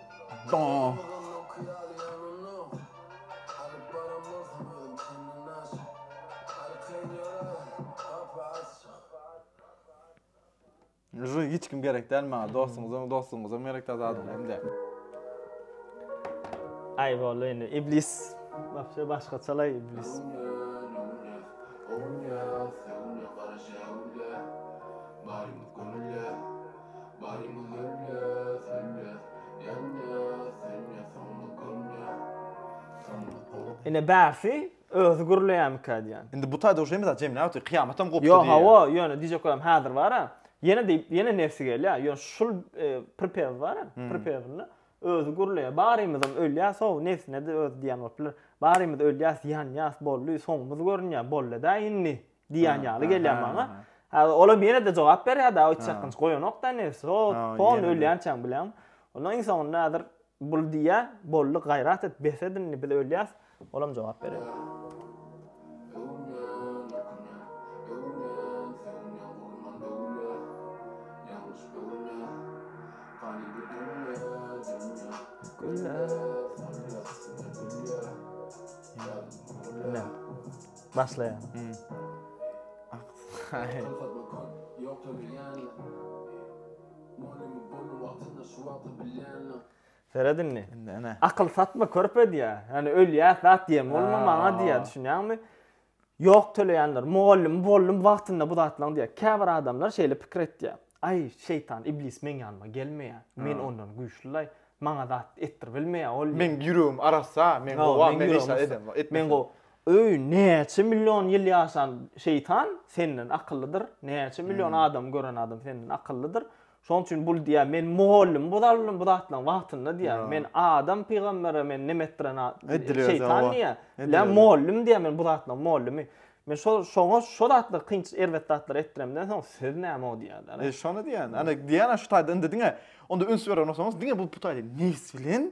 Speaker 2: Jü hiç kim gerek däl maňa. Dostuňyzam, dostuňyzam gerek däl zadyň hemde.
Speaker 1: Ay boldy indi iblis. Wapşe başgaçalaý iblis. Barymy gömle, söndür, ýanma, söndür, soňlup gömle, soňlup gömle. Ine bärsi özi gürleýämikä diýýän. Indi bu taýda uje mysal
Speaker 2: jemläp otyr, kyýamatam gopdy diýýär. Ýok hawa, ýöne diýjek
Speaker 1: bolam häzir bara, ýene diýip, ýene nebsi gelýär, ýöne şul pripewda bara, pripewinde özi gürleýär, barymyzam ölýäs how, nebsine-de özi diýýän bolup biler, barymyz ölýäs, ýanýas, bolly, soňumyz görünýär, bollada indi. diýýän ýaly gelýär maňa. Olam ýene-de jogap berýär da, hiç çakgynç goýanok-da indi, so, pol ölýänçäň bileň. Ondan iň soňunda häzir bul diýýär, boldy, gaýrat et, bes et indi, biz ölýäs. Olam jogap berýär. Başlaýar. Seret indi. Akyl satma körpe diýä. Ýani ölýäs zat diýen bolma maňa diýä. Düşünýäňmi? Ýok töleýänler. Mugallym boldum wagtynda bu zatlaň diýä. Käbir adamlar şeýle pikir etýä. Aý şeýtan iblis meň ýanyma gelmeýä. Men ondan güýçlilaý. Maňa zat etdir bilmeýä ol. Meň ýüregim arassa,
Speaker 2: men gowam, men hiç zat edemok. Men gowy.
Speaker 1: Öý näçe million ýyl ýaşan şeýtan senden akyllydyr, näçe million adam gören adam senden akyllydyr. Şoň üçin bul diýýär, men mugallym bozalmdym bu zatlaryň wagtynda diýýär. Men adam pygambere men nem etdiren şeýtan diýýär. Ýa mugallym diýýär, men bu zatlaryň mugallymy. Men şo şoňa şo zatlar kynç erbet zatlar etdiremden soň söz näme o diýýär. E şony diýýän. Ana
Speaker 2: diýýän şu taýda indi diňe onda üns berer bolsaňyz diňe bu bu taýda nes bilen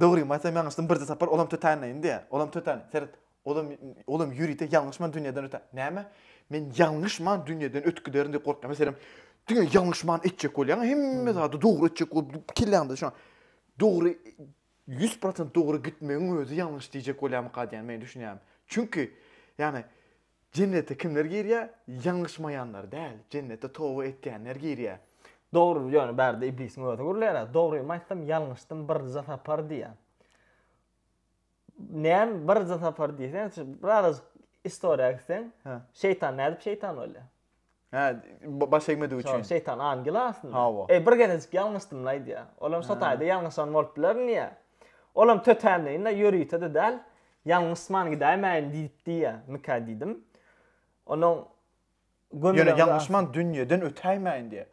Speaker 2: Dogrymy aýtsam ýalňyşdym birje sapar olam tötänine indi olam tötän seret olam olam ýörite ýalňyşman dünýeden ötä näme men ýalňyşman dünýeden ötüp giderin diýip gorkýan meselem diňe ýalňyşman etjek bolýaň hemme zady dogry etjek bolup kelläňde şo dogry ýüz prosent dogry gitmegiň özi ýalňyş diýjek bolýamyka diýen men düşünýärin çünki ýagny Jennete kimler girýär? Ýalňyşmaýanlar däl, jennete toba etýänler girýär. Dogry, ýöne
Speaker 1: bärde iblisiň özi gürleýär-ä, dogrymy aýtsam ýalňyşdym birje sapar diýýär. Näme birje sapar diýseň, şu birazajyk istoriýa gitseň, şeýtan nädip şeýtan bolýar? Hä, ba-
Speaker 2: baş egmedigi Şol üçin. şeýtan angel aslynda.
Speaker 1: Hawa. Eý, bir gezejik ýalňyşdym-la aýdýar. Olam şo taýda ýalňyşan bolup biler diýýä. Olam tötänleýin-le, ýörite-de däl. Ýalňyşman gidäýmäýin diýip diýýä. Mikä diýdim. Onuň
Speaker 2: gömülegiň Ýöne ýalňyşman dünýeden ötäýmäýin diýýä.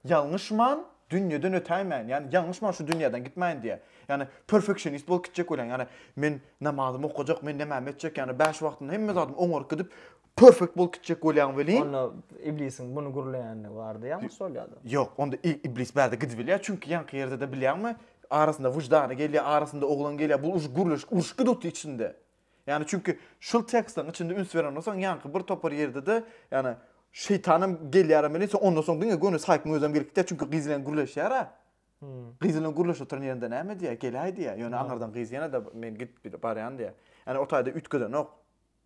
Speaker 2: Ýalňyşman, dünýeden ötäýmäýin, ýagny ýalňyşman şu dünýäden gitmäýin diýýär. Ýagny perfeksionist bolup gitjek bolýan, ýagny men namazymy okajak, men nämämi etjek, ýagny bäş wagtynda hemme zadymy oňaryp gidip, perfekt bolup gitjek bolýaň welin, Onda iblisiň
Speaker 1: muny gürleýändigi bardy ýalňyş şol ýa-da? Ýok, onda
Speaker 2: iblis bärde gidibilýär, çünki ýaňky ýerde-de bilýäňmi, arasynda wyždany gelýär, arasynda oglan gelýär, bu už gürleşik, uruş giduty içinde. Ýani çünki şul tekstiň içinde üns beren bolsaň ýanky bir topar ýerdede ýani şeýtanam gelýärem bilen sen ondan soň diňe göni saýkyň özem gelip gitýär çünki gyz bilen gürleşýärä. Gyz bilen gürleşip oturan ýerinde näme diýýär geläý diýýär ýöne aňyrdan gyz ýene-de men gidip barýan diýýär. Ýani o taýda üýtgedenok.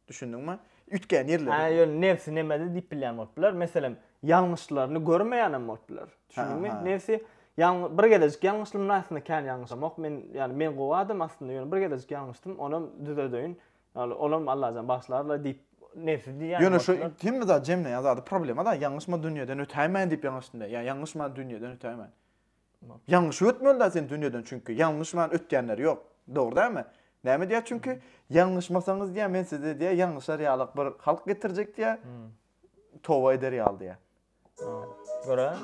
Speaker 2: Düşündiňmi? Üýtgeýän ýerleri. Hä ýöne nebsi nämede
Speaker 1: diýip bilýän bolup biler meselem ýalňyşlaryny görmeýänem bolup biler. Düşündiňmi? Nebsi Ýaln bir gezejik ýalňyşdym aslynda kän ýalňyşamok men ýaly men gowy adam aslynda ýöne bir gezejik ýalňyşdym onam düzedeýin ýaly olam Allajan bagyşlarla diýip nebsi diýýär Ýöne şu hemme zat
Speaker 2: jemleýän zady problema da ýalňyşma dünýeden ötäýmäýin diýip ýalňyşdym diýýär ýa ýalňyşman dünýeden ötäýmäýin ýalňyşyp ötmeli da sen dünýeden çünki ýalňyşman ötýänler ýok dogry dälmi näme diýýär çünki ýalňyşmasaňyz diýýär men size diýýär ýalňyşar ýalyk bir halk getirjek diýýär toba eder ýaly diýýär
Speaker 1: Görä.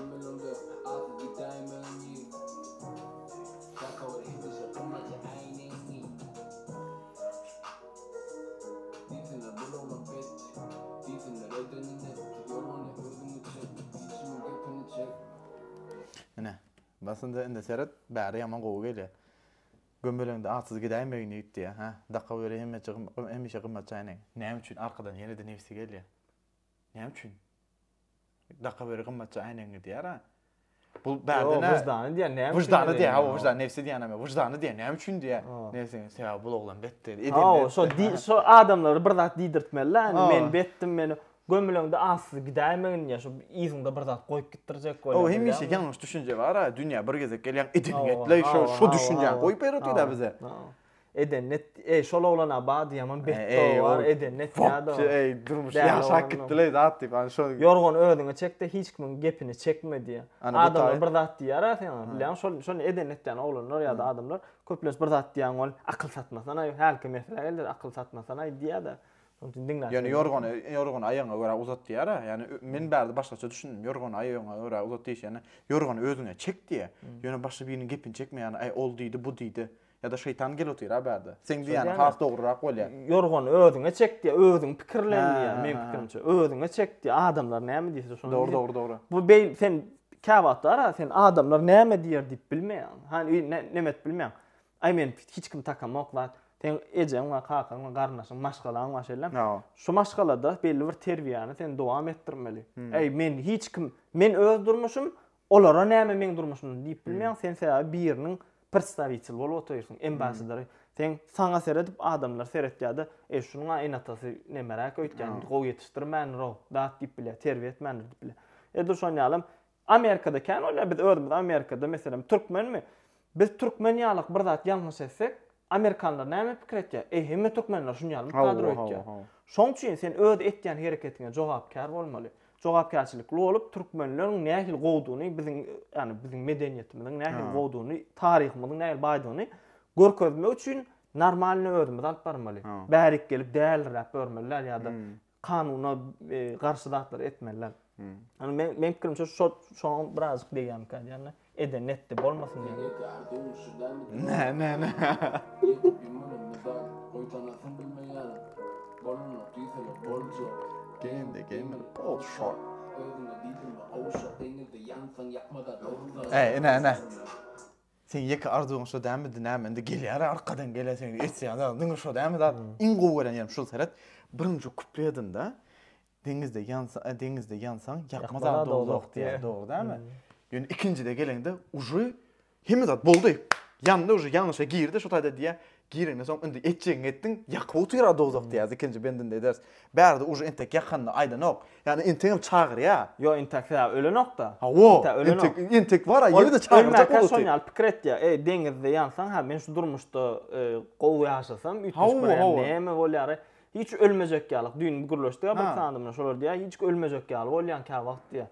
Speaker 2: Ine, basynda indi seret, bäri ýaman gowy gelýär. Gömeleňde atsyz gidäýmegin ýigit diýýär, hä? Daka weli hemişe gymmat çaýnaň. Näme üçin arkadan ýene-de nebsi gelýär? Näme üçin? Dakaweri gymmatja äýnegiň gidýär-ä. Bu bärde ne? Wyždany diýen näme?
Speaker 1: Wyždany diýen, hawa, wyždan,
Speaker 2: nebsi diýen näme? Wyždany diýen näme üçin diýen? Nebsi, sebäbi bu oglan betdi. Hawa, şo şo
Speaker 1: adamlara bir zat diýdirtmeli-dä, indi men betdim, meni gömüleňde asyz gidäýmegin diýen, şo yzyňda bir zat goýup gitdirjek bolýar. Hawa, hemişe ýalňyş düşünje
Speaker 2: bar-a, dünýä bir gezek gelýäň, edeniňi etleý, şo şo düşünjäňi goýup ýöretdiler bize. Eden net,
Speaker 1: eý şol oglana ba diýemem betdo bar, eden net ýa-da. Fopçy eý durmuşy ýaşap
Speaker 2: gitdileý zat diýip an şo. Ýorgany özüňe çekde
Speaker 1: hiç kimiň gepini çekme diýýär. Adamlar bir zat diýýär a seňa bilýäňmi şol şony eden net diýýän oglanlar ýa-da adamlar köplenç bir zat diýýän ol akyl satmasanaý hälki meselä geldi akyl satmasanaý diýýär-de şonuň üçin diňläp. Ýöne
Speaker 2: ýorgany ýorgany aýagyňa görä uzat diýýär a ýani men bärde başgaça düşündim ýorgany aýagyňa görä uzat diýişende ýorgany özüňe çek diýýär ýöne başga biriniň gepini çekme ýani aý ol diýdi bu diýdi Ýa-da şeýtan gel otyr a bärde. Seň diýýäniň has dogrurak bolýa. Ýorgany özüňe çek
Speaker 1: diýýä, özüň pikirlen diýýä, meň pikirimçe. Özüňe çek diýýä, adamlar näme diýse şony. Dogry, dogry, dogry. Bu beýl
Speaker 2: sen
Speaker 1: käwagtlar a sen adamlar näme diýer diýip bilmeýäň. Hany öý näme edip bilmeýäň. Aý men hiç kim takamok zat. Seň ejeň we kakaň we garyndaşyň maşgalaň bar şeýle. Şu maşgalada belli bir terbiýäni sen dowam etdirmeli. Aý men hiç kim, men öz durmuşym, Olara näme meň durmuşymdan diýip bilmeýäň sen sebäbi biriniň predstawitel bolup otyrsyň embasadory seň saňa seredip adamlar seretýärde eý şunuňa eneatasy nemeräk öýtgän gowy ýetişdirmändirou dat diýip bilýär terbiýe etmändir diýip bilýär edil şonýalam amerikada kän bolýar biz özümiz amerikada meselem türkmenmi Biz türkmen ýalyk bir zat ýalňyş etsek, amerikanlar näme pikir etýär? Eý, hemme türkmenler şun ýaly kadro etýär. Şoň üçin sen öz etýän hereketiňe jogapkär bolmaly. Jogapkärçilikli bolup, türkmenleriň nähili gowdygyny, biziň, ýagny biziň medeniýetimiziň nähili gowdygyny, taryhymyzyň nähili baýdygyny görkezmek üçin normalny özümizi alyp barmaly. Bärik gelip dälirräp görmeliler ýa-da kanuna garşy zatlary etmeliler. Ýani men men pikirimçe şu şoňa birazjyk degýärmikä diýýän. Edeni etdi, bolmasyn diýýän. Ne ne ne. Game the game
Speaker 2: all shot. Ey ne ne. Seň ýeke arzuwyň şo dälmidi näme indi gelýär arkadan gelýär seň etýän zadyň diňe şo dälmi zat iň gowy gören ýerim şul seret birinji kupledinde deňizde ýansa e, deňizde ýansaň ýakma zat dowzah diýýär dogry dälmi ýöne ikinjide geleňde užy hemme zat boldy ýandy užy ýalňyşa girdi şo taýda diýýär Girenden soň indi etjegiňi etdiň, ýakyp otur a dowzah diýýäs, ikinji bendinde ederis. Bärde uje entek ýakanda aýdanok. Ýagny entegem çagyrýa. Ýok, entek sebäbi
Speaker 1: ölenok-da. Hawa, entek
Speaker 2: entek bar a, ýene-de çagyrjak bolupdy. Ölmäkä şon ýaly pikir etýär. Eý,
Speaker 1: deňizde ýansaň, ha men şu durmuşda gowy ýaşasam, üýtgeşik bir ýer näme bolýar-aý? Hiç ölmejek ýalyk, düýn gürleşdik-ä bir sanda bilen, şolar diýýär, hiç ölmejek ýaly bolýaň käwagt diýýär.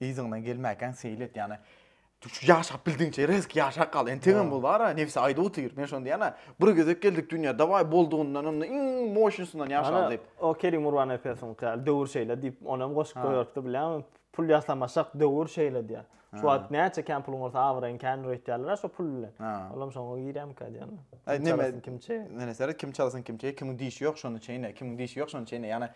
Speaker 2: Yzyňdan gelmäkäň seýil et, ýagny şu ýaşap bildigiňçe rezk ýaşap gal. Entegem bol bar-a, nebsi aýdyp otyr. Men şony diýýän-ä. Bir gezek geldik dünýä, dawaý boldugyndan onda iň moşnysyndan ýaşaly diýip. O Kerim Urbanepesiňki
Speaker 1: ýaly döwür şeýle diýip, ony hem goşup goýberipdi bilýäňmi? Pul ýasamasak döwür şeýle diýýär. Şu wagt näçe kän puluň bolsa abraýyň kän öýtýärler-ä şo pul bilen. Ol hem şoňa girýärmikä diýýän. Kim çalasyn kim çeýe.
Speaker 2: Neme seret, kim çalasyn kim çeýe, kimiň dişi ýok şony çeýne, kimiň dişi ýok şony çeýne. Ýagny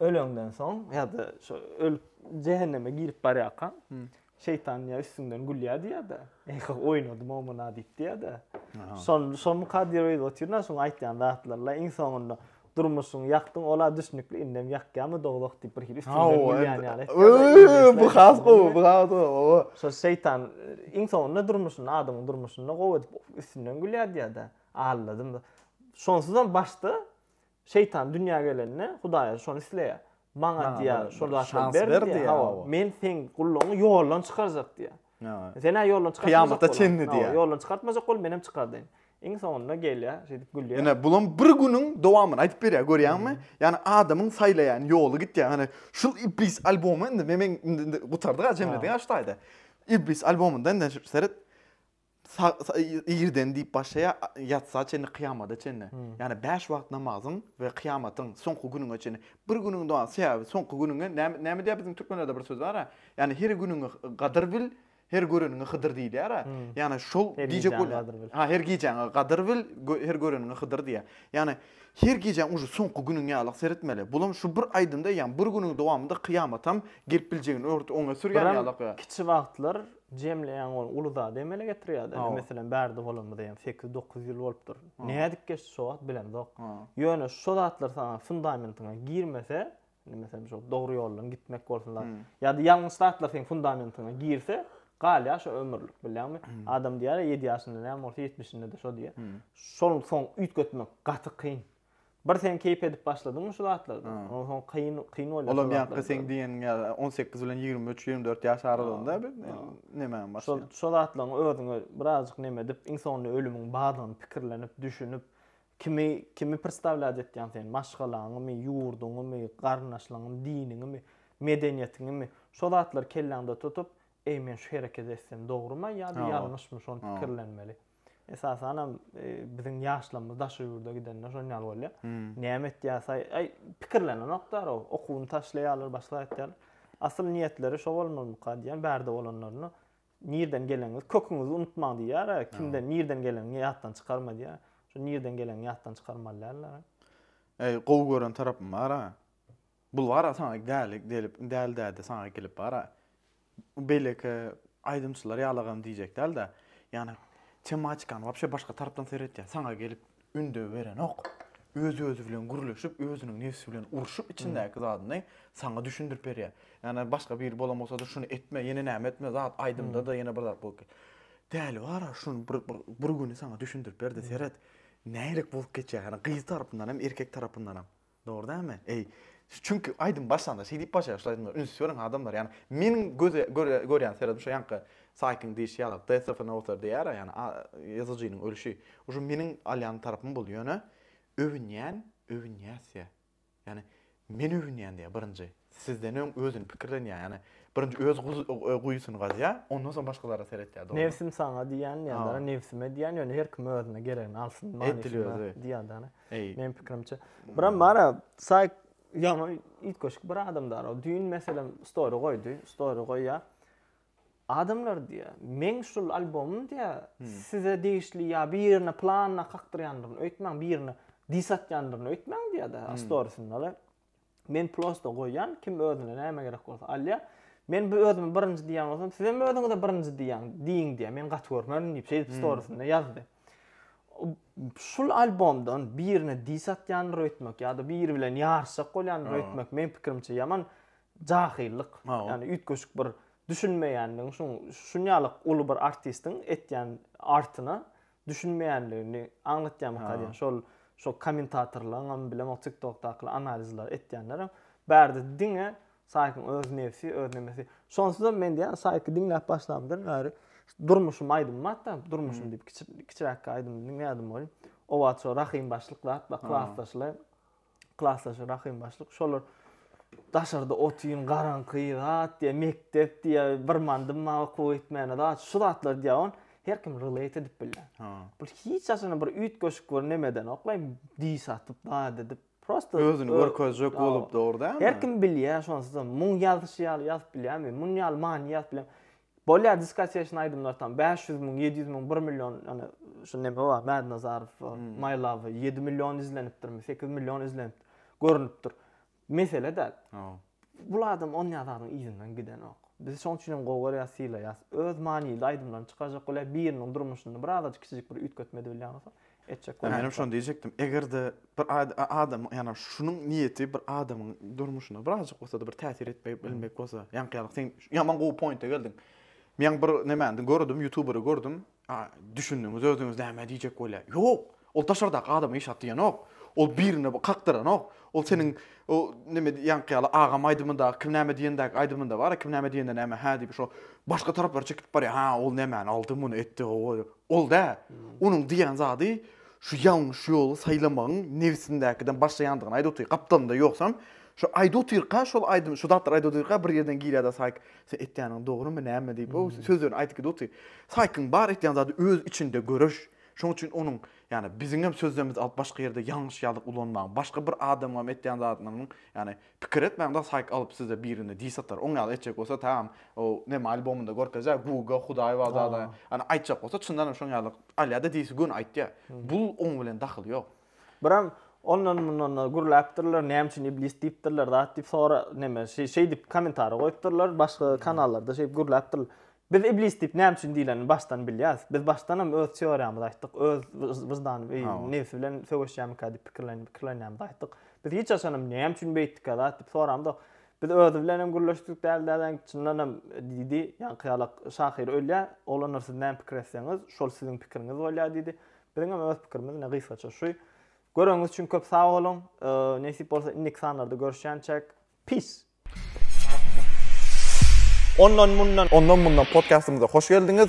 Speaker 1: Öleňden soň ýa-da şo ölüp jähenneme girip barýarkaň, şeýtan ýa üstüňden gülýär diýýär-de, Eýh, oýnadym omuna diýip diýýär-de. Şol şol kadyr öýde otyr-da, şoň aýtýan zatlary-la iň soňunda durmuşyňy ýakdyň, ol-a düşnükli, indem ýakýamy dowzah diýip bir hili üstüňden gülýän ýaly etýär. Bu has gowy, bu
Speaker 2: has gowy, oba. Şo şeýtan
Speaker 1: iň soňunda durmuşyny, adamyň durmuşyny gowy edip üstünden gülýär diýýär-de, aldadym. Şonsuzam başda Şeýtan dünýä gelende Hudaýa şony isleýär. Maňa diýýär, şol zatlar ber diýýär. Hawa, men seň gullugyňy ýoldan çykarjak diýýär. Sen-ä ýoldan çykartmajak. Kyýamata çenli diýýär.
Speaker 2: Ýoldan çykartmajak bol, menem
Speaker 1: çykardaýyn. Iň soňunda gelýär, şeýdip gülýär. Ine, bulam bir günüň
Speaker 2: dowamyny aýdyp berýär, görýäňmi? Ýani adamyň saýlaýan ýoly gitýär. Hany, şul Iblis albomy indi, men indi gutardyk-a, jemledik-a şu taýda. Iblis albomynda indi seret, Irden diýip başlaýar, ýatsa çenli, kyýamada çenli. Ýagny bäş wagt namazyň we kyýamatyň soňky gününe çenli. Bir günüň doga, sebäbi soňky günüňe näme näme diýer biziň türkmenlerde bir söz bar-a, ýagny her günüňi gadyr bil, her göreniňi hydyr diýilýär-ä. Ýagny şol diýjek bolýar. Ha, her gijäňi gadyr bil, her göreniňi hydyr diýýär. Ýagny her gijäň uje soňky günüň ýaly seretmeli. Bulam şu bir aýdymda, ýagny bir günüň dowamynda kyýamatam gelip biljegini örti oňe sürýän ýaly. Kiçi wagtlar
Speaker 1: Jemleýäň ol uly zady emele getirýärdi. Indi meselem bärde bolanymyza ýaňy sekiz-dokuz ýyl bolupdyr. Nädip geçdi şo wagt bilemzok. Ýöne şo zatlar saňa fundamentiňe girmese, indi meselem şo dogry ýoldan gitmek bolsun zat, ýa-da ýalňyş zatlar seň fundamentiňe girse, galýar şo ömürlik bilýäňmi. Adam diýýär-ä ýedi ýaşynda näme bolsa ýetmişinde-de şo diýýär. Şol soň üýtgetmek gaty kyn. Bir sen keýp edip başladyňmy şu zatlardan? Ha. Ondan soň kyn kyn bolýar. Olam şu ýakda zatlardan. seň diýeniň
Speaker 2: ýaly 18 bilen 23-24 ýaş aralygynda bir Ha. nemäň Şol başlaýan. şol zatlaryň özüňe
Speaker 1: birazjyk neme edip, iň soňunda ölümiň bardygyny pikirlenip, düşünip, kimi kimi pristawlýat etýäň sen? Maşgalaňymy, ýurduňymy, garyndaşlaryňymy, diniňimi, medeniýetiňimi? Şo zatlary kelläňde tutup, eý men şu hereketi etsem dogrumy ýa-da Ha. ýalňyşmy şony Ha. pikirlenmeli. Esasanam biziň ýaşlarymyz daşary ýurda gidende şon ýaly bolýar. Hmm. Näme etýäs? Aý, pikirlenenoklar o. Okuwyny taşlaýarlar, başga etýärler. Asyl niýetleri şo bolmalymyka diýen bärde bolanlaryna nirden geleňiz, köküňizi unutmaň diýýär. Kimden nirden geleňiňi ýatdan çykarma diýýär. Şu nirden geleňi ýatdan çykarmaly däldir. Eý,
Speaker 2: gowy gören tarapym bar-a. Bulgara saňa gäli gelip gäli däde saňa gelip bara beýleki aýdymçylar ýalagam diýjek dälda ýani tematikany wapşe başga tarapdan seretýä saňa gelip ündew berenok öz özi bilen gürleşip özüniň nebsi bilen urşup içindäki zadyny saňa düşündirip berýä ýani başga biri bolan bolsady şuny etme ýene näme etme zat aýdymdada ýene bir zat bolup däli bara şuny bir bir güni saňa düşündirip berdi seret nälik bolup geçýä ýani gyz tarapyndanam erkek tarapyndanam. Dogry dälmi? Eý, çünki aýdym başlanda şeý diýip başlaýar, şular aýdymlar, üns beriň adamlar, ýagny meniň göze görýän seredim şo ýaňky saýtyň diýşi ýaly, Death of an Author diýýär-ä, ýagny ýazyjynyň ölşi. Uşo meniň alýan tarapym boldy, ýöne öwünýän, öwünýäs diýýär. Ýagny men öwünýän diýýär birinji. sizden öň özüni pikirlenýär, ýagny birinji öz guýusyny gazýar, ondan soň başgalara seretýär, dogrymy? Nebsim saňa diýýän
Speaker 1: ýa-da nebsime diýýän, ýöne her kim özüne geregini alsyn manysynda diýýär-de, meniň pikirimçe. Biram bar-a, saýk, ýaňy üýtgeşik bir adamdar ol, düýn meselem story goýdy, story goýýar, Adamlar diýýär, meň şul albomym diýýär, size degişli ýa birine planyna kakdyrýandygyny öýtmäň, birine dis atýandygyny öýtmäň diýýär-de, storysynda-da. Men prosto goýýan, kim özüne näme gerek bolsa alýa. Men bu özümi birinji diýýän bolsam, sizem özüňize birinji diýýäň, diýiň diýýä. Men gaty görmerin diýip, şeýdip hmm. storiesinde ýazdy. Şul albomdan birine dis atýanyr öýtmek ýa-da biri bilen ýaryşjak bolýanyr öýtmek meň pikirimçe ýaman jahyllyk. Ýani üýtgeşik bir düşünmeýänligiň şuň şunýalyk uly bir artistiň etýän artyna düşünmeýänligini aňlatýamyka diýen şol şo kommentatorlaryňam bilemok tiktokdakylar analizler etýänlerem bärde diňe Saýkyň öz nebsi öz nemesi şonsuzam men diýýän Saýky diňläp başlamdan bäri durmuşym aýdym batda durmuşym diýip kiçiräkki aýdym diňleýärdim welin owaço rahym başlyk zat bar klasdaşlaý klasdaşy Rahym başlyk şolar daşarda otyn garaňky zat diýe mekdep diýe bir mandym ma okuw etmäne zat şu zatlar diýe on her kim relate edip bilýär. Ha. Bu hiç aşana bir üýt goşuk bir nemeden oklay diş atyp zat edip prosta özüni görkezjek
Speaker 2: bolup dogry däl. Her kim bilýär
Speaker 1: şonsuzam muň ýazyşy ýaly ýazyp bilýärmi? Muny ýaly many ýazyp bilýär. Bolýa diskotesna aýdymlar tam 500 müň, 700 müň, 1 million ýöne şu neme bar Mädnazarow, hmm. My Love 7 million izlenipdirmi, 8 million izlenip görünipdir. Mesele däl. Bu adam on ýazaryň yzyndan gidenok. Biz şoň üçin hem gowy görýäs, sylaýas. Öz manyly aýdymlaryny çykarjak bolýar, biriniň durmuşynda birazajyk kiçijik bir üýtgetme edip bilýän bolsa, etjek bolýar. Menem şony diýjekdim. Eger-de
Speaker 2: bir adamyň, ýagny şunuň niýeti bir adamyň durmuşyna birazjyk bolsa-da bir täsir etmek, bilmek bolsa, ýaňky ýaly sen ýaman gowy pointa geldiň. Men bir nemäni gördüm, ýutuberi gördüm. Düşündiňiz özüňiz näme diýjek bolýar. Ýok! Ol daşardaky adama işat diýenok. Ol birine kakdyranok. Ol seniň o näme ýaňky ýaly agam aýdymynda kim näme diýendäki aýdymynda bar, kim näme diýende näme hä diýip şo başga taraplara çekilip barýar. Ha, ol nämäni aldy, muny etdi, Ol dä, onuň diýen zady şu ýalňyş ýoly saýlamagyň nebsindäkiden başlaýandygyny aýdyp otyr. Gapdalynda ýogsam, şo aýdyp otyrka, şol aýdym, şu zatlary aýdyp otyrka bir ýerden girýär-de Saýk, Sen etýäniň dogrymy, näme diýip, o sözlerini aýdyp gidip otyr. Saýkyň bar etýän zady öz içinde göreş. Şonuň üçin onuň, ýagny biziňem sözlerimizi alyp başga ýerde ýalňyş ýaly ulanmaň. Başga bir adamyňam etýän zadynyň, ýagny Pikir etmäň da saýk alyp size birine diss atar oň ýaly etjek bolsa taam ow neme albomynda görkezýär guga hudaý bar zada ýany aýtjak bolsa çyndanam şoň ýaly alýada dissi göni aýtýar bul oň bilen dahyly ýok. Biram
Speaker 1: ondan mundan da gürläpdirler näme üçin iblis diýipdirler zat diýip sora neme şeýdip komentariýa goýupdyrlar başga kanallarda şeýdip gürläpdirler Biz iblis diýip näme üçin diýilenini başdan bilýäris. Biz başdanam öz teoriýamyzy aýtdyk, öz wyždan we nebsi bilen söweşýärmikä diýip pikirlenýärmizi aýtdyk. Biz hiç haçanam näme üçin beýtdikä zat diýip soramzok. Biz özi bilen hem gürleşdik däl dädäň, çyndan hem diýdi, ýaňky ýala şahyr ölýär, oglanlar siz näme pikir etseňiz, şol siziň pikiriňiz bolýar diýdi. Biziň hem öz pikirimiz ine gysgaça şu. Göreniňiz üçin köp sag boluň. Nesip bolsa indiki sanlarda görüşýänçäk. Peace.
Speaker 2: Ondan mundan. Ondan mundan podkastymyza hoş geldiňiz.